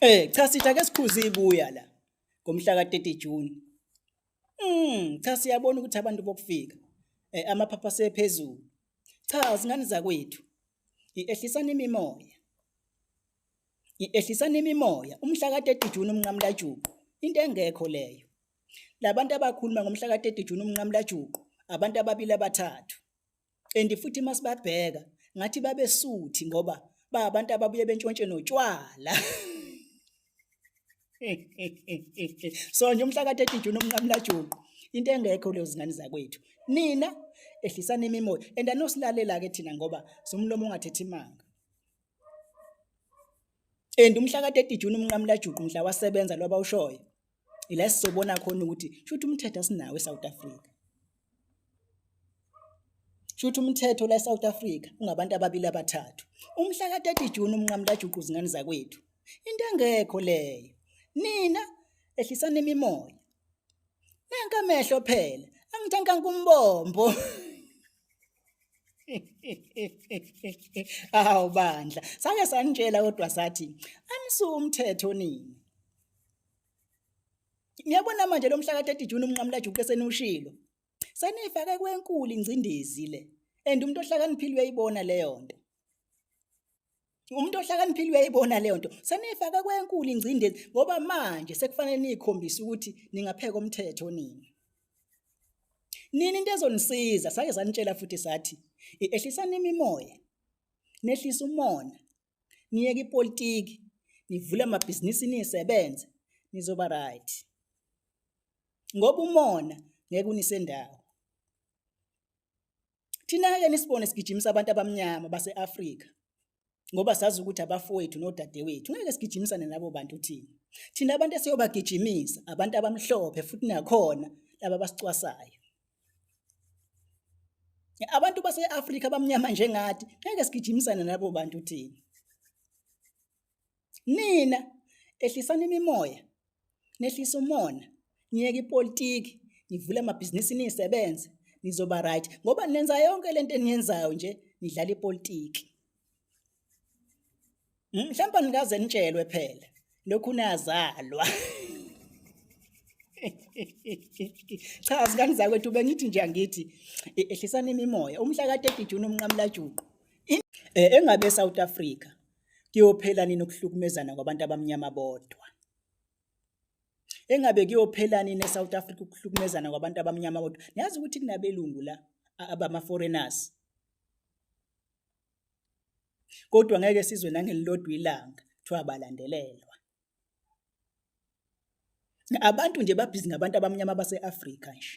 Eh cha sitha ke sikhuze ibuya la ngomhla ka-30 June. Mm cha siyabona ukuthi abantu bokufika eh amaphapha sephezulu. Cha zingane zakwethu. Iehlisana imimoya. Iehlisana imimoya umhla ka-30 June umnqamlajuqu into engekho leyo. Labantu abakhuluma ngomhla ka-30 June umnqamlajuqu abantu ababili abathathu and futhi masibabheka ngathi babesuthi ngoba ba abantu ababuye bentshontshe notshwala so nje umhla ka-30 June umnqamlajuqu into engekho leyo zingane zakwethu nina ehlisani imimoya and anosilalela ke thina ngoba somlomo ongathethi imanga and umhla ka-30 June umnqamlajuqu mhla wasebenza loba ushoyo ila sizobona khona ukuthi shuthi umthetho asinawo eSouth Africa shuthi umthetho la eSouth Africa ungabantu ababili abathathu umhla ka-30 June umnqamula juqu zingane zakwethu into engekho leyo nina ehlisani imimoya nanka amehlo phela angithanka kumbombo awu bandla sake sanitshela kodwa sathi anisuke umthetho nini Niyabona manje lo mhla ka-30 June umnqamulajuqu eseniwushilo. Senifake kwenkulu ingcindezi le. And umuntu ohlakaniphile uyayibona leyo nto. Umuntu ohlakaniphile uyayibona leyo nto. Senifake kwenkulu ingcindezi ngoba manje sekufanele nikhombise ukuthi ningapheka umthetho nini. Nini into ezonisiza sake sanitshela futhi sathi ehlisani imimoya. Nehlisa umona. niyeke ipolitiki nivule amabhizinisi nisebenze nizoba right ngoba umona ngeke unisendawo thina-ke nisibone sigijimisa abantu abamnyama base-afrika ngoba sazi ukuthi abafowethu nodadewethu ngeke sigijimisane nabo bantu thina thina abantu esiyobagijimisa abantu abamhlophe futhi nakhona laba basicwasayo Abantu base-Afrika abamnyama njengathi ngeke sigijimisane nalabo bantu thina. Nina ehlisani imimoya, nehlise umona, niyeke ipolitiki, nivule amabhizinisi nisebenze, nizoba right ngoba nenza yonke lento eniyenzayo nje nidlala ipolitiki. Hmm, mhlawumbe nikaze nitshelwe phela lokhu nazalwa cha zingane zakwethu bengithi nje angithi e, ehlisana imimoya umhla ka-30 June umnqamulajuqu e, engabe eSouth Africa kuyophela nini ukuhlukumezana kwabantu abamnyama bodwa engabe kuyophela nini eSouth Africa ukuhlukumezana kwabantu abamnyama bodwa niyazi ukuthi kunabelungu la abama foreigners kodwa ngeke sizwe nangelilodwa ilanga kuthiwa balandelelwa abantu nje babhizi ngabantu abamnyama base-afrika nje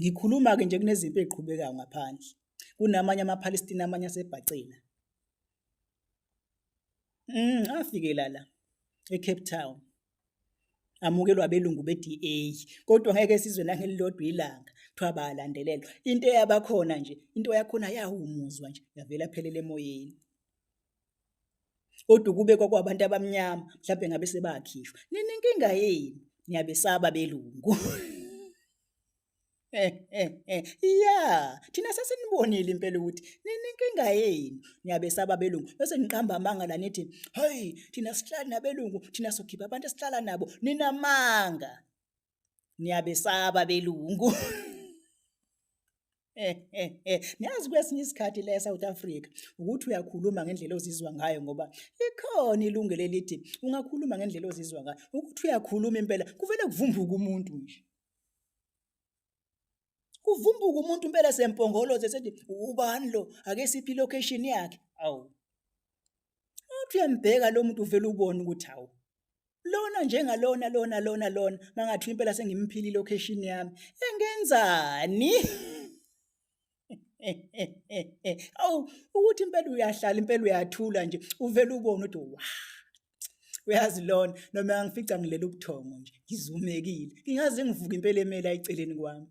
ngikhuluma-ke nje kunezimpi eziqhubekayo ngaphandle kunamanye amaphalestina amanye asebhacela um mm, afikela la ecape town amukelwa abelungu be-DA kodwa ngeke sizwe nangelilodwa ilanga kuthiwa bayalandelelwa into eyabakhona nje into yakhona yawumuzwa nje yavela phelele emoyeni kodwa ukube kwakwabantu abamnyama mhlawumbe ngabe sebakhishwa ninenkinga yini niyabesaba belungu Eh, eh, eh. Ya, thina sesinibonile impela ukuthi ninenkinga yenu. Niyabesaba abelungu. Bese niqamba amanga la nithi, "Hayi, thina sihlala nabelungu, thina sokhipha abantu esihlala nabo." Ninamanga. Niyabesaba abelungu. Eh, eh, eh. Niyazi kwesinye isikhathi la eSouth Africa ukuthi uyakhuluma ngendlela ozizwa ngayo ngoba likhona ilungelo elithi ungakhuluma ngendlela ozizwa ngayo. Ukuthi uyakhuluma impela kuvele kuvumbuke umuntu nje. kuvumbuka umuntu impela sempongoloze sethi ubani lo ake siphi location yakhe awu uthi uyambheka lo muntu uvela ubone ukuthi hawu lona njengalona lona lona lona mangathi impela sengimphili location yami engenzani awu ukuthi impela uyahlala impela uyathula nje uvele ubone ukuthi wa uyazi lona noma ngifica ngilela ubuthongo nje ngizumekile ngingaze ngivuke impela emele ayiceleni kwami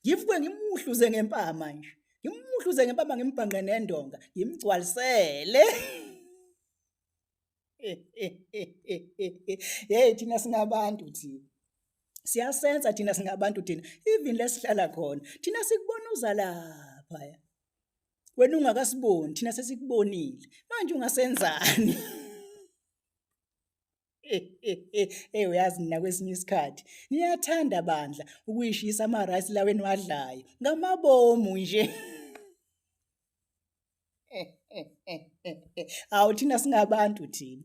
ngivuke ngimuhluze ngempama nje ngimuhluze ngempama ngimbhanqe nendonga ngimgcwalisele hey thina singabantu thina siyasenza thina singabantu thina even lesihlala khona thina sikubona uza lapha wena ungakasiboni thina sesikubonile manje ungasenzani hey uyazi nina kwesinye isikhathi niyathanda bandla ukuyishisa ama-rice laweni wadlayo ngamabomu nje Awu thina singabantu thina.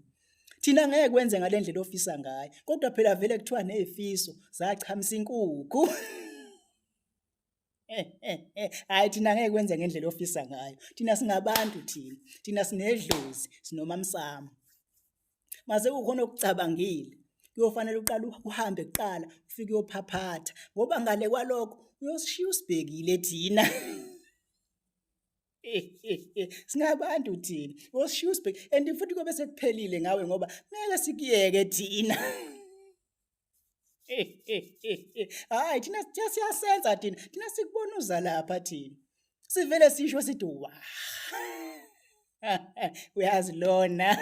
Thina ngeke kwenze ngalendlela ofisa ngayo. Kodwa phela vele kuthiwa nezifiso zachamisa inkukhu. Hayi thina ngeke kwenze ngendlela ofisa ngayo. Thina singabantu thina. Thina sinedlozi, sinomamsamo. Mase ukhona ukucabangile. Kuyofanele uqala uhambe kuqala ufike uyophaphatha ngoba ngale kwalokho uyosishiya usibhekile thina. singabantu thina oshushbek and futhi kobe sekuphelile ngawe ngoba ngeke sikuyeke thina hayi thina siyasenza thina thina sikubona uza lapha thina sivele sisho sithi wa uyazi lona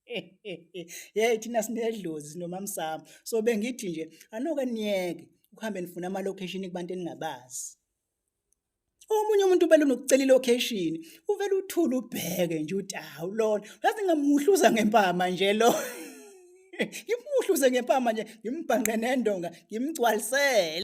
Hey thina sinedlozi nomamsamo. So bengithi nje anoke niyeke ukuhambe nifuna ama location kubantu eningabazi. Omunye umuntu ubele nokucela ilocation, uvele uthula ubheke nje uthi hawu lona, ngaze ngamuhluza ngempama nje lo. Ngimuhluze ngempama nje, ngimbhanqe nendonga, ngimgcwalisele.